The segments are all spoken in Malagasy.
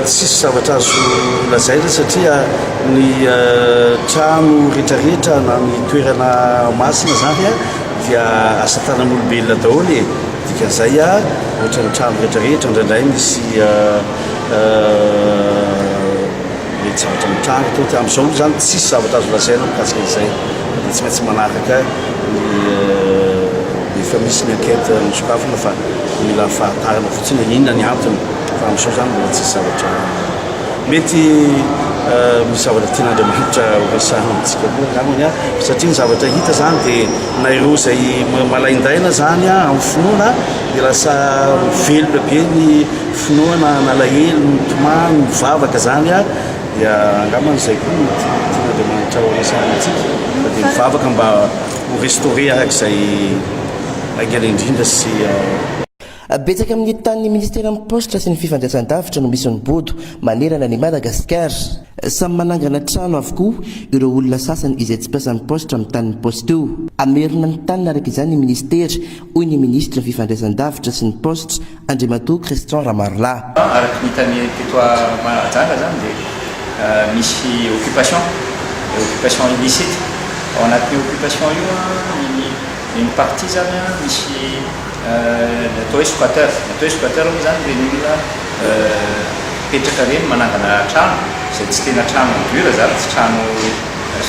tsisy zavatra azo lazaina satria ny eh, trano rehetrarehetra na ny toerana masina zany a dia asa tanan'olombelona daholo e dikan'izay a ohatrany trano rehetrarehetra ndraindray misy eh, eh, Mety zavatra mitranga eto dia amin'izao aloha izany tsisy zavatra azo lazaina mikasika an'izay fa dia tsy maintsy manaraka ny efa misy ny enquête nosokafina fa mila fahatarana fotsiny hoe inona ny antony fa amin'izao izany mbola tsisy zavatra mety misy zavatra tian'Andriamanitra horesahana amintsika koa angambany satria ny zavatra hita izany dia na ireo izay malaindaina izany amin'ny finoana dia lasa velona be ny Finoana nalahelo, nitomany, nivavaka zany a, dia angamba izay koa no tian'Andriamanitra ho resahana antsika, fa dia mivavaka mba ho restaurer araka izay haingana indrindra sy. Betsaka amin'ny tany ny Ministeran'ny Paositra sy ny Fifandraisan-davitra no misy ny bodo manerana an'i Madagasikara. Samy manangana trano avokoa ireo olona sasany izay tsy mpiasan'ny Paositra amin'ny tanin'ny Paositra io. Hamerina ny taniny araka izany ny Ministera hoy ny minisitry ny Fifandraisan-davitra sy ny paositra, Andriamatoa Christian Ramarolahy. Araka ny hitan'ny teto Mahajanga izany dia misy occupation, occupation illicite. Ao anatin'io occupation io dia ny partie izany misy ny atao hoe squatter. Ny atao hoe squatter moa izany ireny olona mipetraka ireny manangana trano izay tsy tena trano en dur izany, tsy trano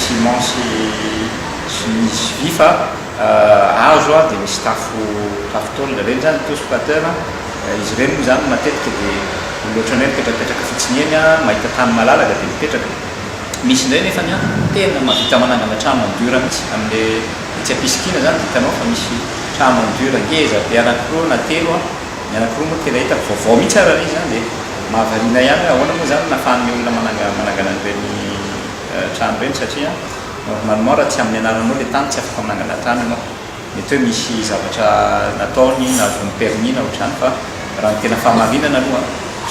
ciment sy sy vy fa. azo dia misy tafo tafo tôle ireny zany toa squatter a, izy ireny moa zany matetika dia olona ohatranay mipetrapetraka fotsiny eny a, mahita tany malalaka dia mipetraka, misy indray nefany a tena mahavita manangana trano en dur mihitsy amle etsy ampisikina zany dia hitanao fa misy trano en dur ngeza be anakiroa na telo a, ny anakiroa moa tena hitako vaovao mihitsy ary ilay izy zany dia mahavariana ihany hoe ahoana moa zany no nahafahan'ny olona manangana an'ireny trano ireny satria. Normalement raha tsy amin'ny anaranao ilay tany, tsy afaka manangana tany ianao. Mety hoe misy zavatra nataony, nahazoany permis na ohatr'izany fa raha ny tena fahamarinana aloha,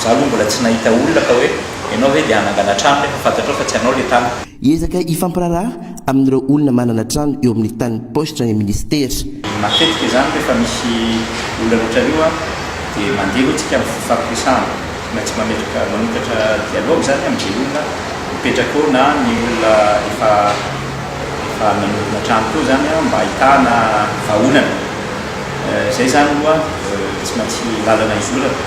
za aloha mbola tsy nahita olona ka hoe ianao ve dia hanangana trano nefa fantatrao fa tsy anao ilay tany. Hiezaka hifampiraharaha amin'ireo olona manana trano eo amin'ny tanin'ny paositra ny minisitera. Matetika izany rehefa misy olona mihoatra an'io dia mandeha aloha isika amin'ny fampitrisahana. maintsy mametraka manokatra dialogue zany amin ze olona mipetraka eo na ny olona efa efa nanorina trano teo zany an mba ahitana vahaolana zay zany aloha tsy maintsy lalana izorana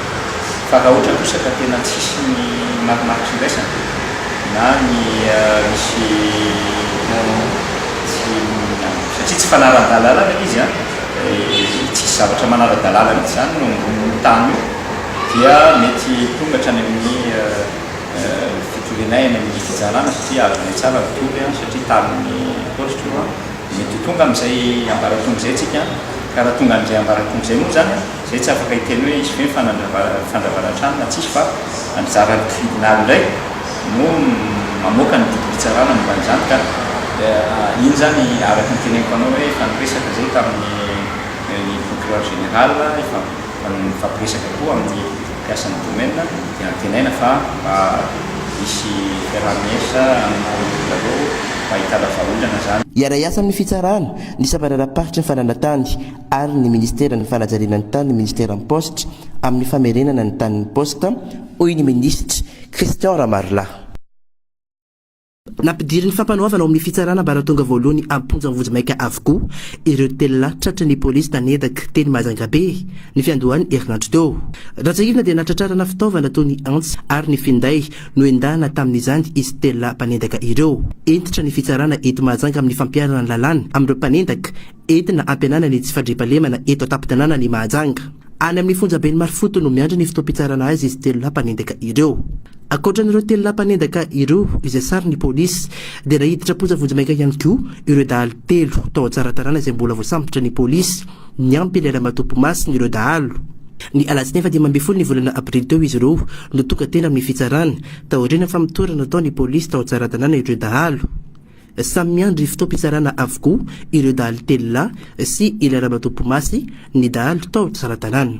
fa raha ohatra kosa ka tena tsisy ny marimaritra iraisana na ny misy tsy satria tsy fanaran dalalana ilay izy an tsisy zavatra manara dalalana zany eo ambonin io tany io dia mety hitonga hatrany amin'ny fitorianay any amin'ny fitsarana satria azonay tsara ry toby a, satria talin'ny paositra io a, mety ho tonga amin'izay ambaratonga izay tsika a, ka raha tonga an'izay ambaratonga izay moa izany a, izay tsy afaka hiteny hoe hisy ve ny fandravarana trano na tsisy fa anjara ny tribunal indray no mamoaka ny didim-pitsarana momba an'izany ka iny izany araka ny teneniko anao hoe efa niresaka izay tamin'ny procureur général efa Raha ny mifampiresaka koa amin'ny mpiasan'ny domaine dia antenaina fa mba hisy fiaraha-miasa amin'ireo zareo mba hitana vahaolana izany. Hiara-hiasa amin'ny fitsarana, ny sampandraram-paritry ny fananantany ary ny minisiteran'ny fanajariana ny tany ny minisiteran'ny paositra amin'ny famerenana ny tanin'ny paosita, hoy ny minisitra Christian Ramarolahy. Nampidirin'ny fampanoavana ao amin'ny fitsarana ambaratonga voalohany am-ponja vonjimaika avokoa ireo telo lahy tratry ny polisy taneraky teny Majungabe, ny fiandohan'ny herinandro teo. Raha tsiahivina dia nahatratrarana fitaovana toy ny antsy ary ny finday nohendahana tamin'izany izy telo lahy mpanendaka ireo. Hentitra ny fitsarana eto Mahajanga amin'ny fampiharana ny lalàna amin'ireo mpanendaka Entina hampihenana ny tsy fandriampahalemana eto an-tampon-tanànan' i Mahajanga. Any amin'ny fonjaben'i Marofoto no miandry ny fotoam-pitsarana azy izy telo lahy mpanendaka ireo. Ankoatra an'ireo telo lahy mpanendaka ireo izay saron'ny polisy dia naiditra am-ponja vonjimaika ihany koa ireo dahalo telo tao Tsaratanàna izay mbola voasambotra ny polisy niampy ilay ramatoa mpimasina ireo dahalo. Ny alatsinainy faha-dimy ambin'ny folo ny volana aprily teo izy ireo no tonga teny amin'ny fitsarana, taorian'ny famotorana nataon'ny polisy tao Tsaratanàna ireo dahalo. Samy miandry fotoam-pitsarana avokoa ireo dahalo telo lahy sy ilay ramatoa Pomasy, ny dahalo tao Tsaratanàna.